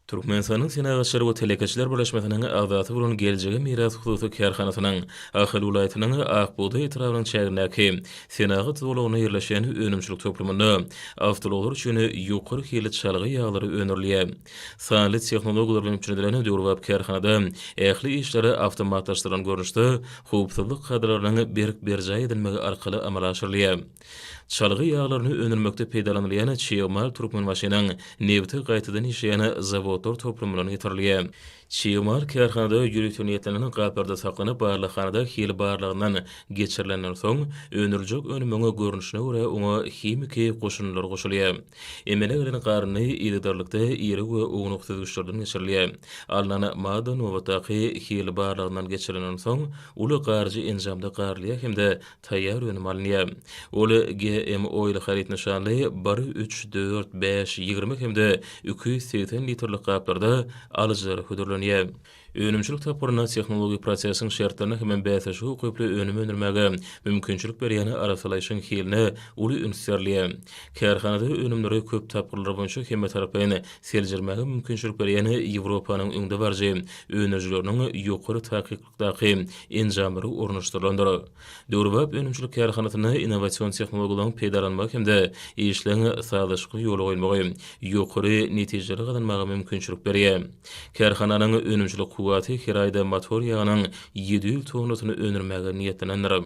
Türkmenistanyň Senagatçylar we telekeçiler birleşmesiniň agzasy bolan Geljege miras hususy kärhanasynyň Ahal welaýatynyň Ak bugdaý etrabynyň çägindäki senagat zolagynda ýerleşen önümçilik toplumynda awtoulaglar üçin ýokary hilli çalgy ýaglary öndürilýär. Sanly tehnologiýalar bilen üpjün edilen döwrebap kärhanada ähli işler awtomatlaşdyrylan görnüşde, howpsuzlyk kadalarynyň berk berjaý edilmegi arkaly amala aşyrylýar. Çalgy ýaglaryny öndürmekde peýdalanylýan çig mal Türkmenbaşynyň nebti gaýtadan işleýän zawodlar toplumyndan getirilýär. Çig mal kärhanada ýörite niýetlenen gaplarda saklanyp, barlaghanada hil barlagyndan geçirilenden soň, öndüriljek önümiň görnüşine görä oňa himiki goşundylar goşulýar. Emele gelen garyndy yzygiderlikde iri we ownuk süzgüçlerden geçirilýär. Alnan madda nobatdaky hil barlagyndan geçirilenden soň, uly garyjy enjamda garylýar hem-de taýýar önüm alynýar. Ol GMO ýyly haryt nyşanly bir, üç, dört, bäş, ýigrimi hem-de iki ýüz segsen litrlik gaplarda alyjylara hödürlenýär. Önümçilik tapgyrynda tehnologik prosesiň şertlerine hem-ä bäsleşige ukyply önüm öndürmäge mümkinçilik berýän arassalaýşyň hiline uly üns berilýär. Kärhanada önümleri köp tapgyrlar boýunça hemmetaraplaýyn seljermäge mümkinçilik berýän Ýewropanyň öňdebaryjy öndürijileriniň ýokary takyk daky enjamlary ornaşdyrylandyr. Döwrebap önümçilik kärhanasynda innowasion tehnologiýalaryň peýdalanmagy hem-de işleň sazlaşykly ýola goýulmagy ýokary netijeleri gazanmaga mümkinçilik berýär. Kärhananyň önümçilik kuwwaty her aýda motor ýagynyň ýedi ýüz tonnasyny öndürmäge niýetlenendir.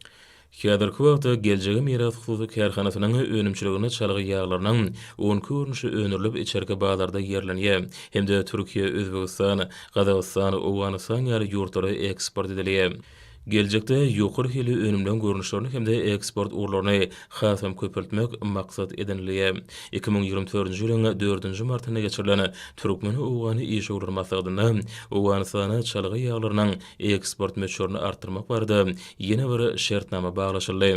Häzirki wagtda Geljege miras hususy kärhanasynyň önümçiliginde çalgy ýaglarynyň on iki görnüşi öndürilip, içerki bazarda ýerlenýär hem-de Türkiýä, Özbegistan, Gazagystan, Owganystan ýaly ýurtlara eksport edilýär. Geljekde ýokary hilli önümleň görnüşlerini hem-de eksport ugurlaryny hasam köpeltmek maksat edinilýär. Iki müň ýigrimi dördünji ýylyň dördünji martynda geçirilen türkmen-owgan işewürler maslahatynda Owganystana çalgy ýaglarynyň eksport möçberini artdyrmak barada ýene bir şertnama baglaşyldy.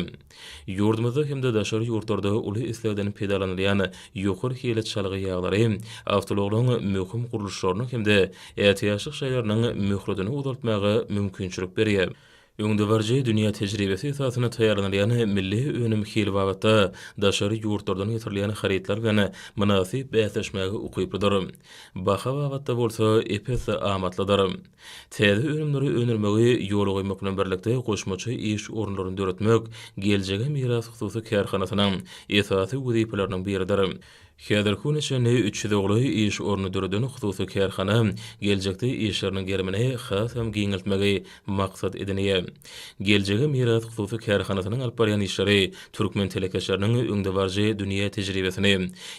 Ýurdumyzda hem-de daşary ýurtlarda uly islegden peýdalanylýan ýokary hilli çalgy ýaglary awtoulagylaryň möhüm gurluşlarynyň hem-de ätiýaçlyk şaýlarynyň möhletini uzaltmaga mümkinçilik berýär. Öňdebaryjy dünýä tejribesi esasynda taýýarlanylýan milli önüm hili babatda daşary ýurtlardan getirilýän harytlar bilen mynasyp bäsleşmäge ukyplydyr. Baha babatda bolsa ep-esli amatlydyr. Täze önümleri öndürmegi ýola goýmak bilen birlikde, goşmaça iş orunlaryny döretmek Geljege miras hususy kärhanasynyň esasy wezipeläriniň biridir. Häzirki güne çenli üç ýüze golaý iş ornuny döreden hususy kärhana geljekde işleriniň gerimini hasam giňeltmegi maksat edinýär. Geljege miras hususy kärhanasynyň alyp barýan işleri türkmen telekeçileriniň öňdebaryjy dünýä tejribesini,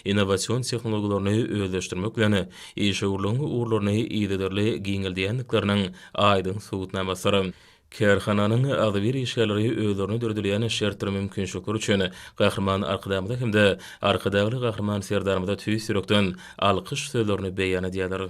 innowasion tehnologiýalaryny özleşdirmek bilen, işewürligiň ugurlaryny yzygiderli giňeldýändikleriniň aýdyň subutnamasydyr. Kärhananyň agzybir işgärleri özlerine döredilýän şert we mümkinçilikler üçin Gahryman Arkadagymyza hem-de Arkadagly Gahryman Serdarymyza tüýs ýürekden alkyş sözlerini beýan edýärler.